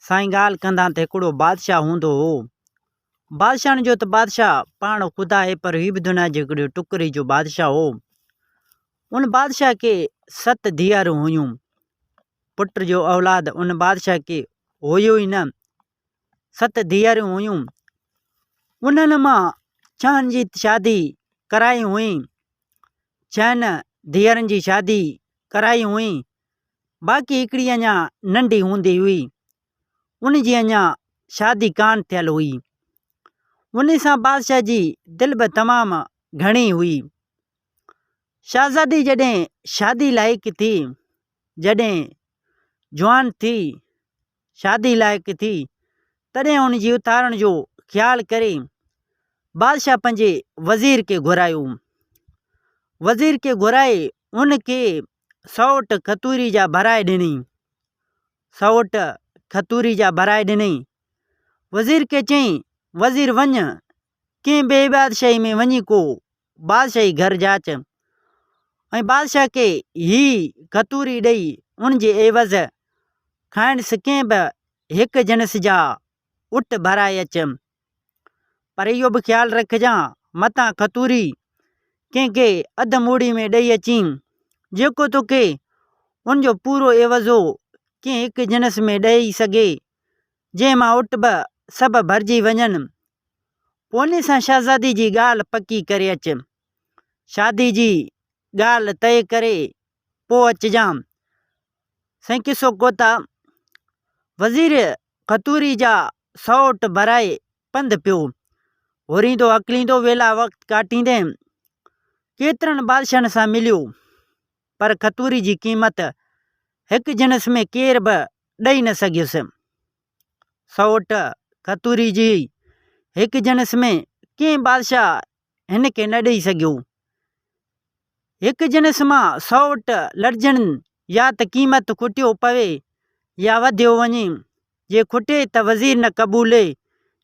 سائين ڳالهه ڪندان ته هڪڙو بادشاهه هوندو هو. بادشاهن جو ته بادشاهه پاڻ خدا آهي پر هي به دنيا جي هڪڙي ٽڪري جو بادشاهه هو. ان بادشاهه کي ست ڌيئرون هيون. پٽ جو اولاد ان بادشاهه کي هيو ئي نه. ست ڌيئرون هيون. انهن مان ڇهن جي شادي ڪرائي هئي. ڇهن ڌيئرن جي شادي ڪرائي هئي. باقي هڪڙي اڃا ننڍي هوندي هئي، ان جي اڃا شادي ڪانه ٿيل هئي. ان سان بادشاهه جي دل به تمام گهڻي هئي. شهزادي جڏهن شادي لائق ٿي، جڏهن جوان ٿي، شادي لائق ٿي، تڏهن ان جي اٿارڻ جو خيال ڪري بادشاهه پنهنجي وزير کي گهرايو. وزير کي گهرائي ان کي سئوٽ کتوري جا ڀرائي ڏنئي سئوٽ کتوري جا ڀرائي ڏنئي وزير کي چيائين وزير وڃ ڪنهن ٻئي بادشاهي ۾ وڃي ڪو بادشاهي گهر جاچ ۽ بادشاهه کي هي کتوري ڏئي ان جي عيوض کانئس ڪنهن به هڪ جنس جا اٽ ڀرائي اچ پر اهو به خيال رکجان متان کتوري ڪنهن کي اڌ موڙي ۾ ڏئي اچين، جيڪو توکي ان جو پورو عيوضو ڪنهن هڪ جنس ۾ ڏئي سگهي، جنهن مان اٽ به سڀ ڀرجي وڃن. پوني سان شهزادي جي ڳالهه پڪي ڪري اچ. شادي جي ڳالهه طئي ڪري پوء اچجان. سائين قصو ڪوتا وزير قطوري جا سئوٽ ڀرائي پنڌ پيو. هوريندو هڪليندو ويلا وقت ڪاٽيندي ڪيترن بادشاهن سان مليو. پر قطوري جي قيمت هڪ جنس ۾ ڪير به ڏئي نه سگهيس. سئوٽ قطوري جي هڪ جنس ۾ ڪنهن بادشاهه هن کي نه ڏئي سگهيو. هڪ جنس مان سئوٽ لڙجڻ يا ته قيمت کٽيو پوي يا وڌيو وڃي. جي کٽي ته وزير نه قبولي،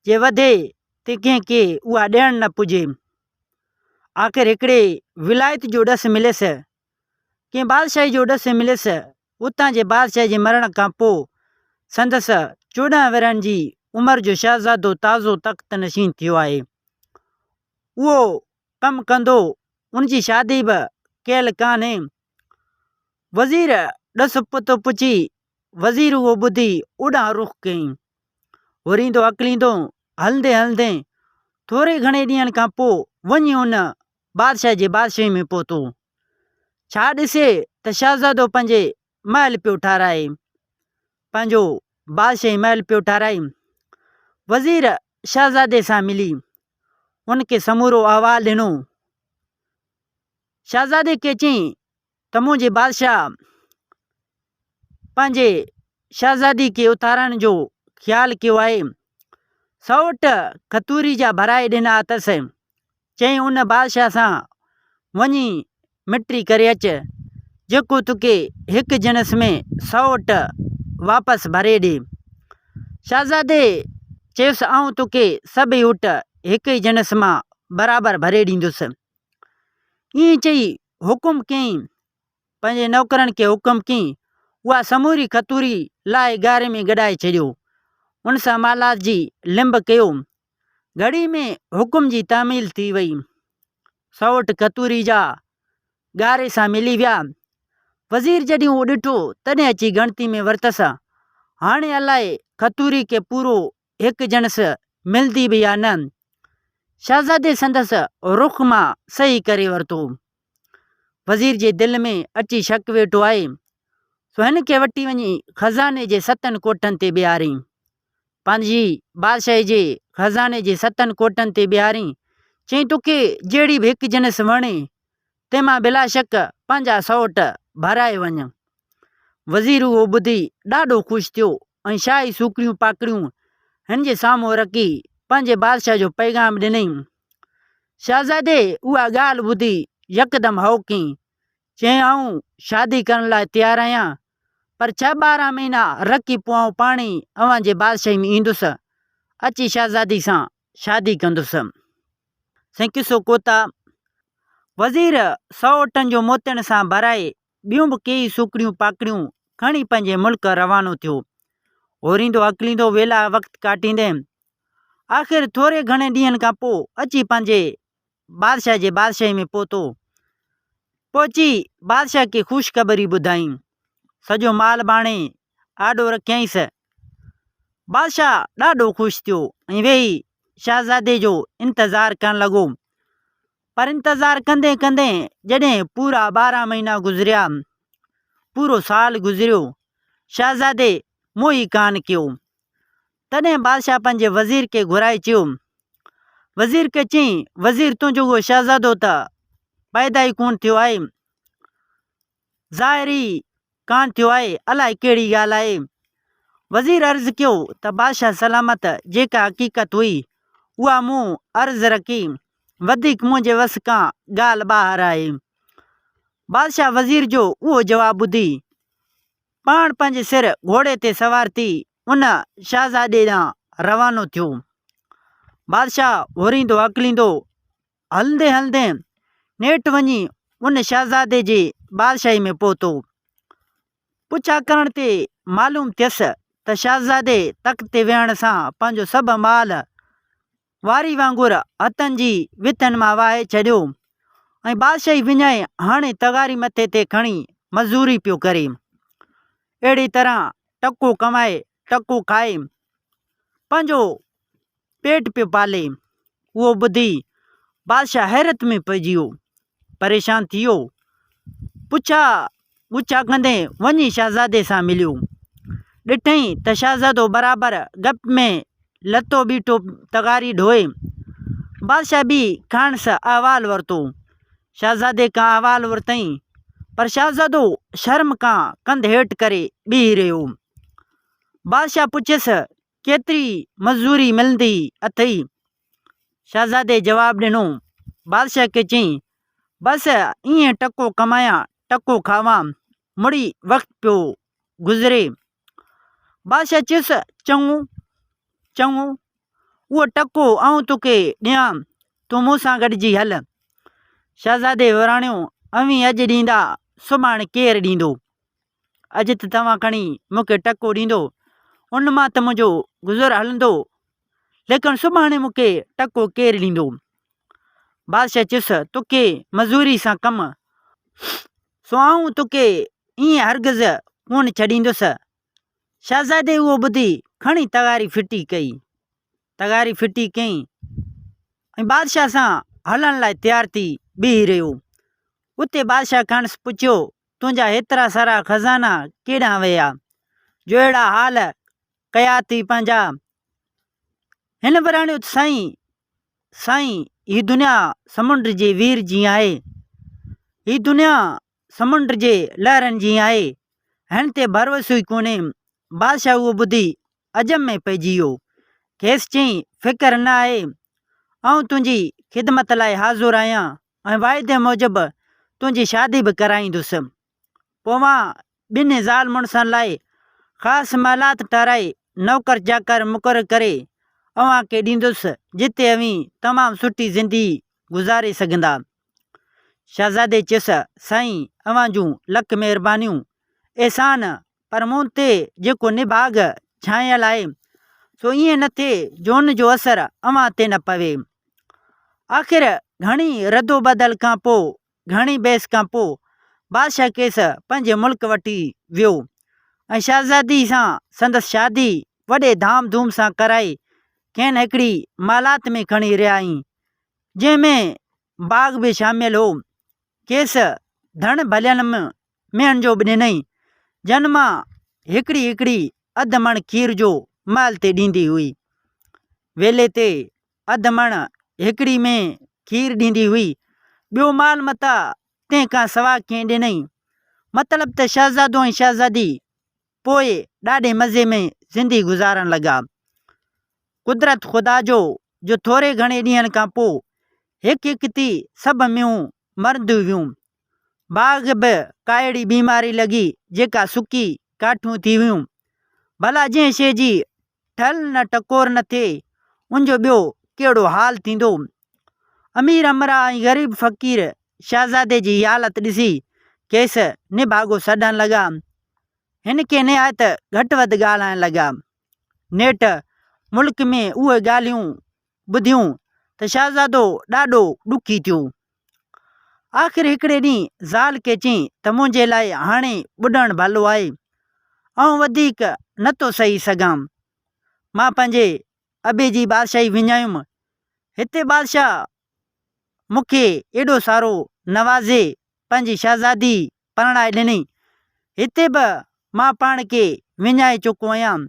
جي وڌي ته ڪنهن کي اها ڏيڻ نه پڄي. آخر هڪڙي ولايت جو ڏس مليس ڪنهن بادشاهي جو ڏس مليس، اتان جي بادشاهه جي مرڻ کان پوء سندس چوڏهن ورهين جي عمر جو شهزادو تازو تخت نشين ٿيو آهي. اهو ڪم ڪندو، ان جي شادي به ڪيل ڪانهي. وزير ڏس پتو پڇي، وزير اهو ٻڌي اوڏانهن رخ ڪيائين. هوريندو هڪليندو، هلندي هلندي ٿوري گهڻي ڏينهن کان پوء وڃي ان بادشاهه جي بادشاهي ۾ پهتو. ڇا ڏسي ته شهزادو پنهنجي محل پيو ٺهرائي. پنهنجو بادشاهي محل پيو ٺهرائي. وزير شهزادي سان ملي ان کي سمورو احوال ڏنو. شهزادي کي چيائين تموع جي بادشاهه پنهنجي شهزادي کي اٿارڻ جو خيال ڪيو آهي. سئوٽ کتوري جا ڀرائي ڏنا اٿس. چيائين ان بادشاهه سان وڃي مٽي ڪري اچ، جيڪو توکي هڪ جنس ۾ سئوٽ واپس ڀري ڏي. شهزادي چيس آئون توکي سڀ ئي اٽ هڪ ئي جنس مان برابر ڀري ڏيندس. ائين چئي حڪم ڪيائين، پنهنجي نوڪرن کي حڪم ڪيائين، اها سموري کٿوري لاهي ڳاڙهي ۾ گڏائي ڇڏيو. ان سان مالات جي لنب ڪيو. گهڙي ۾ حڪم جي تعميل ٿي وئي. سئوٽ کٿوري جا ڳاڙهي سان ملي ويا. وزير جڏهن اهو ڏٺو، تڏهن اچي ڳڻتي ۾ ورتس. هاڻي الائي کٿوري کي پورو هڪ جڻس ملندي به يا نه؟ شهزادي سندس رخ مان صحيح ڪري ورتو. وزير جي دل ۾ اچي شڪ ويٺو آهي، سو هن کي وٺي وڃي خزاني جي ستن ڪوٺن تي بيهارين. پنهنجي بادشاهي جي خزاني جي ستن ڪوٺن تي بيهارين، چئين توکي جهڙي به هڪ جنس وڻي، تنهن مان بلاشڪ پنهنجا سئوٽ ڀرائي وڃ. وزير اهو ٻڌي ڏاڍو خوش ٿيو ۽ شاهي سوڪڙيون پاڪڙيون هن جي سامهون رکي پنهنجي بادشاهه جو پيغام ڏنائين. شهزادي اها ڳالهه ٻڌي يڪدم هائو ڪئي. چيائين آئون شادي ڪرڻ لاء تيار آهيان پر ڇهه ٻارهن مهينا رکي پوء آئون پاڻ ئي اوهان جي بادشاهي ۾ ايندس. اچي شهزادي سان شادي ڪندس. سائين قصو ڪوتا وزير سئو اٽن جو موتين سان ڀرائي ٻيون به ڪيئي سوکڙيون پاکڙيون کڻي پنهنجي ملڪ روانو ٿيو. اوريندو اڪليندو ويلا وقت ڪاٽيندي آخر ٿوري گهڻي ڏينهن کان پوء اچي پنهنجي بادشاهه جي بادشاهي ۾ پهتو. پهچي بادشاهه کي خوشخبري ٻڌائين. سڄو مال ڀاڻي آڏو رکيائينس. بادشاهه ڏاڍو خوش ٿيو ۽ ويهي شهزادي جو انتظار ڪرڻ لڳو. پر انتظار ڪندي ڪندي جڏهن پورا ٻارهن مهينا گذريا، پورو سال گذريو، شهزادي منهن ئي ڪانه ڪيو. تڏهن بادشاهه پنهنجي وزير کي گهرائي چيو. وزير کي چيائين، وزير تنهنجو اهو شهزادو ته پيدا ئي ڪونه ٿيو آهي. ظاهر ئي ڪانه ٿيو آهي، الائي ڪهڙي ڳالهه آهي؟ وزير عرض ڪيو ته بادشاهه سلامت جيڪا حقيقت هئي، اها مون عرض رکي، وڌيڪ منهنجي وس کان ڳالهه ٻاهر آهي. بادشاهه وزير جو اهو جواب ٻڌي، پاڻ پنهنجي سر گهوڙي تي سوار ٿي ان شهزادي ڏانهن روانو ٿيو. بادشاهه هوريندو هڪليندو هلندي هلندي نيٺ وڃي ان شهزادي جي بادشاهي ۾ پهتو. پڇا ڪرڻ تي معلوم ٿيس ته شهزادي تخت تي ويهڻ سان پنهنجو سڀ مال واري وانگر هٿن جي وٿين مان وهائي ڇڏيو ۽ بادشاهي وڃائي هاڻي تغاري مٿي تي کڻي مزوري پيو ڪري. اهڙي طرح ٽڪو ڪمائي ٽڪو کائي پنهنجو پيٽ پيو پالي اهو ٻڌي بادشاهه حيرت ۾ پئجي ويو پريشان ٿي ويو پڇا ڳڇا ڪندي وڃي شهزادي سان مليو ڏٺئي ته شهزادو برابر گپ ۾ لتو بيٺو تغاري ڍوئي بادشاهه به کانئس احوال ورتو شهزادي کان احوال ورتئي پر شهزادو شرم کان ڪنڌ هيٺ ڪري بيهي رهيو بادشاهه پڇيس ڪيتري مزوري ملندي اٿئي؟ شهزادي جواب ڏنو. بادشاهه کي چيائين، بس ائين ٽڪو ڪمايان، ٽڪو کاوان، مڙئي وقت پيو گذري. بادشاهه چيس، چڱو، چڱو، اهو ٽڪو آئون توکي ڏيان، تون مون سان گڏجي هل. شهزادي وراڻيو، اوهين اڄ ڏيندا، سڀاڻ ڪير ڏيندو؟ اڄ ته توهان کڻي مون کي ٽڪو ڏيندو، ان مان ته منهنجو گذر هلندو، ليڪن سڀاڻي مون کي ٽڪو ڪير ڏيندو؟ بادشاهه چيس، توکي مزوري سان ڪم، سو آئون توکي ائين هرگز ڪونه ڇڏيندس. شهزادي اهو ٻڌي کڻي تغاري ڦٽي ڪئي، تغاري ڦٽي ڪيائين ۽ بادشاهه سان هلڻ لاء تيار ٿي بيهي رهيو. اتي بادشاهه کانئس پڇيو تنهنجا هيترا سارا خزانا ڪيڏانهن ويا؟ جو اهڙا حال ڪيا اٿئي پنهنجا. هن وراڻيو ته سائين، سائين، هي دنيا سمنڊ جي وير جيئن آهي. هي دنيا سمنڊ جي لهرن جيئن آهي. هن تي ڀروسو ئي ڪونهي. بادشاهه اهو ٻڌي عجم ۾ پئجي ويو. کيس چيائين، فڪر نه آهي، آئون تنهنجي خدمت لاء حاضر آهيان ۽ واعدي موجب تنهنجي شادي به ڪرائيندس. پويان ٻنهي زال مڙسن لاء خاص محلات ٺهرائي نوڪر چاڪر مقرر ڪري اوهان کي ڏيندس، جتي اوهين تمام سٺي زندگي گذاري سگهندا. شهزادي چيس، سائين، اوهان جون لک مهربانيون، احسان پر مون تي جيڪو نڀاڳ ڇانيل آهي، سو ائين نه ٿئي جو ان جو اثر اوهان تي نه پوي. آخر گهڻي ردوبدل کان پوء، گهڻي بحث کان پوء بادشاهه کيس پنهنجي ملڪ وٺي ويو ۽ شهزادي سان سندس شادي وڏي ڌام ڌوم سان ڪرائي کين هڪڙي محلات ۾ کڻي رهيائين، جنهن ۾ باغ به شامل هو. کيس ڌڻ ڀلين م مينھن جو به ڏنئي، جن مان هڪڙي هڪڙي اڌ مڻ کير جو مئل تي ڏيندي هئي. ويلي تي اڌ مڻ هڪڙي ۾ کير ڏيندي هئي، ٻيو مال متئ تنھن کان سوا ڪنھن ڏنئي. مطلب ته شهزادو ۽ شهزادي پوء ڏاڍي مزي ۾ زندي گذارڻ لڳا. قدرت خدا جو جو ٿوري گهڻي ڏينھن کان پوء هڪ هڪ ٿي سڀ مينھون مرنديون هيون. باغ به ڪاهڙي بيماري لڳي جيڪا سڪي ڪاٺيون ٿي ويون. ڀلا جنهن شيء جي ٺل نه ٽڪور نه ٿئي ان جو ٻيو ڪهڙو حال ٿيندو. امير امراء ۽ غريب فقير شهزادي جي هي حالت ڏسي کيس نڀاڳو سڏڻ لڳا. هن کي نهايت گهٽ وڌ ڳالهائڻ لڳا. نيٺ ملڪ ۾ اهي ڳالهيون ٻڌيون ته شهزادو ڏاڍو ڏکي ٿيو. آخر هڪڙي ڏينهن زال کي چيائين ته منهنجي لاء هاڻي ٻڏڻ ڀلو آهي. آئون وڌيڪ نه ٿو سهي سگهان. مان پنهنجي ابي جي بادشاهي وڃايم. هتي بادشاهه مون کي ايڏو سارو نوازي پنهنجي شهزادي پرڻائي ڏني. هتي به مان پاڻ کي وڃائي چڪو هيم،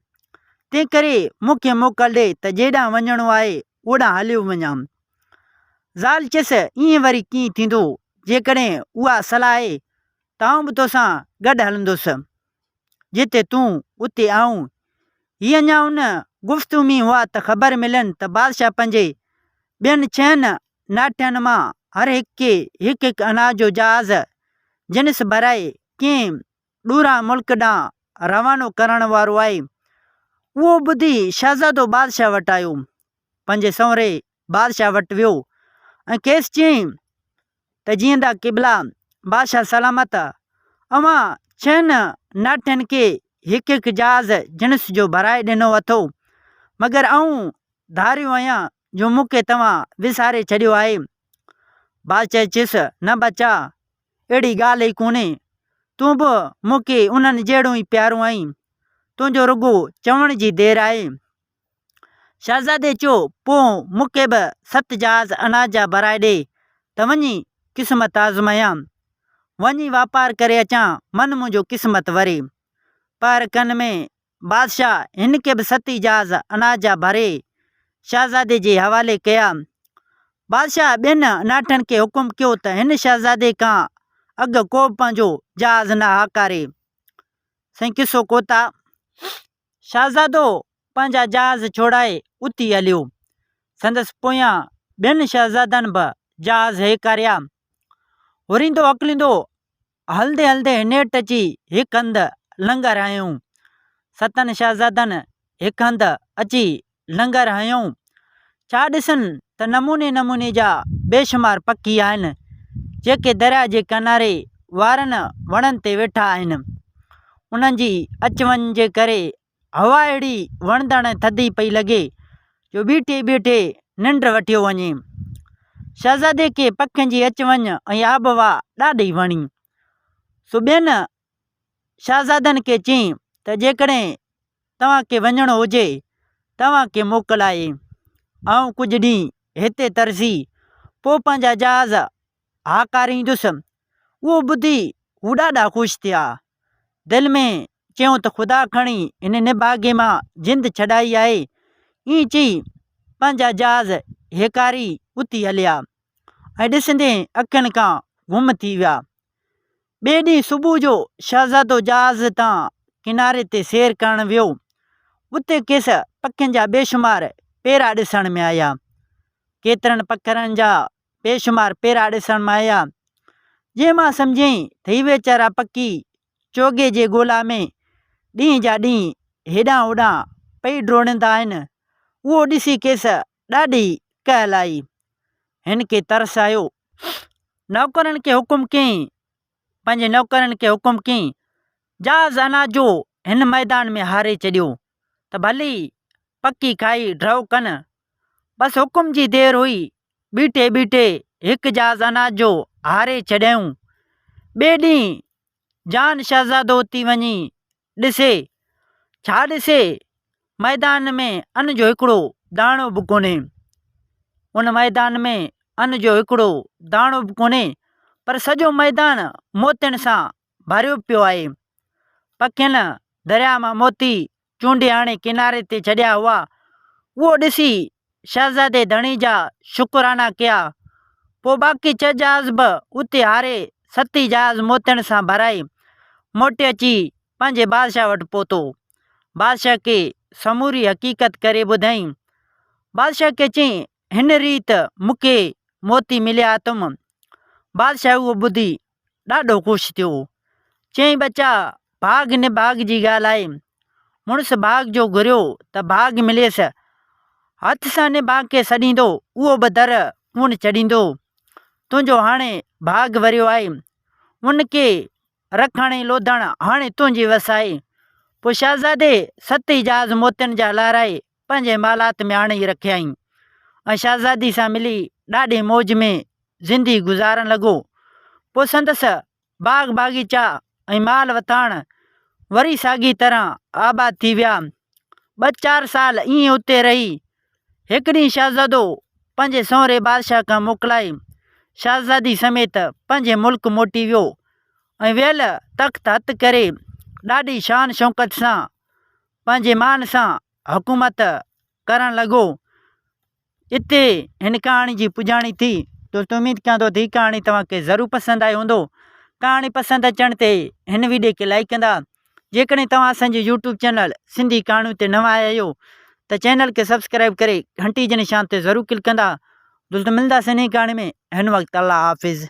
تنهنڪري مون کي موڪل ڏي ته جيڏانهن وڃڻو آهي، اوڏانهن هليو وڃان. زال چيس، ائين وري ڪيئن ٿيندو، جيڪڏهن اها صلاح آهي ته آئون به توسان گڏ هلندس. جتي تون، اتي آئون. هي اڃا ان گفتگو ۾ هئا ته خبر ملين ته بادشاهه پنهنجي ٻين ڇهن ناٺين مان هر هڪ کي هڪ هڪ اناج جو جهاز جنس ڀرائي ڪنهن ڏورانهين ملڪ ڏانهن روانو ڪرڻ وارو آهي. اهو ٻڌي شهزادو بادشاهه وٽ آيو. پنهنجي سنوري بادشاهه وٽ ويو ۽ کيس چيائين ته جيئندا قبلا بادشاهه سلامت اوهان ڇهن ناٺين کي هڪ هڪ جهاز جنس جو ڀرائي ڏنو اٿو مگر آئون ڌاريو آهيان جو مون کي توهان وساري ڇڏيو آهي. بادشاهه چيس نه ٻچا اهڙي ڳالهه ئي ڪونهي تون به مون کي انهن جهڙو ئي پيارو آهين تنهنجو رڳو چوڻ جي دير آهي. شهزادي چيو، پوء مون کي به ست جهاز اناج جا ڀرائي ڏي ته وڃي قسمت آزمايان. وڃي واپار ڪري اچان، من منهنجو قسمت وري. پهر کن ۾ بادشاهه هن کي به ست ئي جهاز اناج جا ڀري شهزادي جي حوالي ڪيا. بادشاهه ٻين اناٺن کي حڪم ڪيو ته هن شهزادي کان اڳ ڪوبه پنهنجو جهاز نه هاڪاري. سائين قصو ڪوتا. شهزادو پنهنجا جهاز ڇوڙائي اتي هليو. سندس پويان ٻين شهزادن به جهاز هيڪاريا. هوريندو هڪليندو هلندي هلندي هنيٺ اچي هڪ هنڌ لنگر هنيو. ستن شهزادن هڪ هنڌ اچي لنگر هنيو. ڇا ڏسن ته نموني نموني جا بيشمار پکي آهن، جيڪي درياء جي ڪناري وارن وڻن تي ويٺا آهن. انهن جي اچ وڃ جي ڪري هوا اهڙي وڻندڙ ۽ ٿڌي پئي لڳي، جو بيٺي بيٺي ننڊ وٺيو وڃي. شهزادي کي پکين جي اچ وڃ ۽ آبهوا ڏاڍي وڻي. سو ٻين شهزادن کي چيائين ته جيڪڏهن توهان کي وڃڻو هجي توهان کي موڪل آهي. آئون ڪجهه ڏينهن هتي ترسي پوء پنهنجا جهاز هاڪاريندس. اهو ٻڌي هو ڏاڍا خوش ٿيا. دل ۾ چيائون ته خدا کڻي هن نڀاڳي مان جند ڇڏائي آهي. ائين چئي پنهنجا جهاز هيڪاري اٿي هليا ۽ ڏسندي اکين کان گم ٿي ويا. ٻئي ڏينهن صبح جو شهزادو جهاز تان ڪناري تي سير ڪرڻ ويو. اتي کيس پکين جا بيشمار پيرا ڏسڻ ۾ آيا. ڪيترن پکرن جا بيشمار پيرا ڏسڻ ۾ آيا، جنهن مان سمجهيائين ته هي ويچارا پکي چوغي جي ڳولا ۾ ڏينهن جا ڏينهن هيڏانهن هوڏانهن پئي ڊوڙندا آهن. اهو ڏسي کيس ڏاڍي ڪهل آئي. هن کي ترس آيو. نوڪرن کي حڪم ڪيائين. پنهنجي نوڪرن کي حڪم ڪيائين، جهاز اناج جو هن ميدان ۾ هاري ڇڏيو ته ڀلي پکي کائي ڍؤ ڪن. بس حڪم جي دير هئي. بيٺي بيٺي هڪ جهاز اناج جو هاري ڇڏيائون. ٻئي ڏينهن جان شهزادو اتي وڃي ڏسي، ڇا ڏسي؟ ميدان ۾ ان جو هڪڙو داڻو به ڪونهي. ان ميدان ۾ ان جو هڪڙو داڻو به ڪونهي، پر سڄو ميدان موتين سان ڀريو پيو آهي. پکين درياء مان موتي چونڊي آڻي ڪناري تي ڇڏيا هئا، اهو ڏسي شهزادي ڌڻي جا شڪرانا ڪيا. پوء باقي ڇهه جهاز به اتي هاري ستي جهاز موتين سان ڀرائي موٽي اچي پنهنجي بادشاهه وٽ پهتو. بادشاهه کي سموري حقيقت ڪري ٻڌائين. بادشاهه کي چيائين، هن ريت مون کي موتي مليا اٿم. بادشاهه اهو ٻڌي ڏاڍو خوش ٿيو. چيائين ٻچا ڀاڳ هن ڀاڳ جي ڳالهه آهي. مڙس ڀاڳ جو گهريو ته ڀاڳ مليس. هٿ سان هن ڀاڳ کي سڏيندو اهو به در ڪونه چڙهيندو. تنهنجو هاڻي ڀاڳ وريو آهي. ان کي رک هڻي لوڌڻ هاڻي تنهنجي وس آهي. پوء شهزادي ست اعجاز موتين جا لارائي پنهنجي محلات ۾ آڻي رکيائين ۽ شهزادي سان ملي ڏاڍي موج ۾ زندي گذارڻ لڳو. پوء سندس باغ باغيچا ۽ مال وٿاڻ وري ساڳي طرح آباد ٿي ويا. ٻه چار سال ائين اتي رهي. هڪ ڏينهن شهزادو پنهنجي سهري بادشاهه کان موڪلائي شهزادي سميت پنهنجي ملڪ موٽي ويو ۽ ويل تخت هٿ ڪري ڏاڍي شان شوڪت سان پنهنجي مان سان حڪومت ڪرڻ لڳو. اتي هن ڪهاڻي جي پڄاڻي ٿي. دوستو اميد ڪيان ٿو ته هي ڪهاڻي توهان کي ضرور پسند آئي هوندو. ڪهاڻي پسند اچڻ تي هن ويڊيو کي لائيڪ ڪندا. جيڪڏهن توهان اسان جي يوٽيوب چينل سنڌي ڪهاڻيون تي نوان آيا آهيو ته چينل کي سبسڪرائيب ڪري گهنٽي جي نشان تي ضرور ڪلڪ ڪندا. دوستو ملنداسين نئين ڪهاڻي ۾ هن وقت الله حافظ.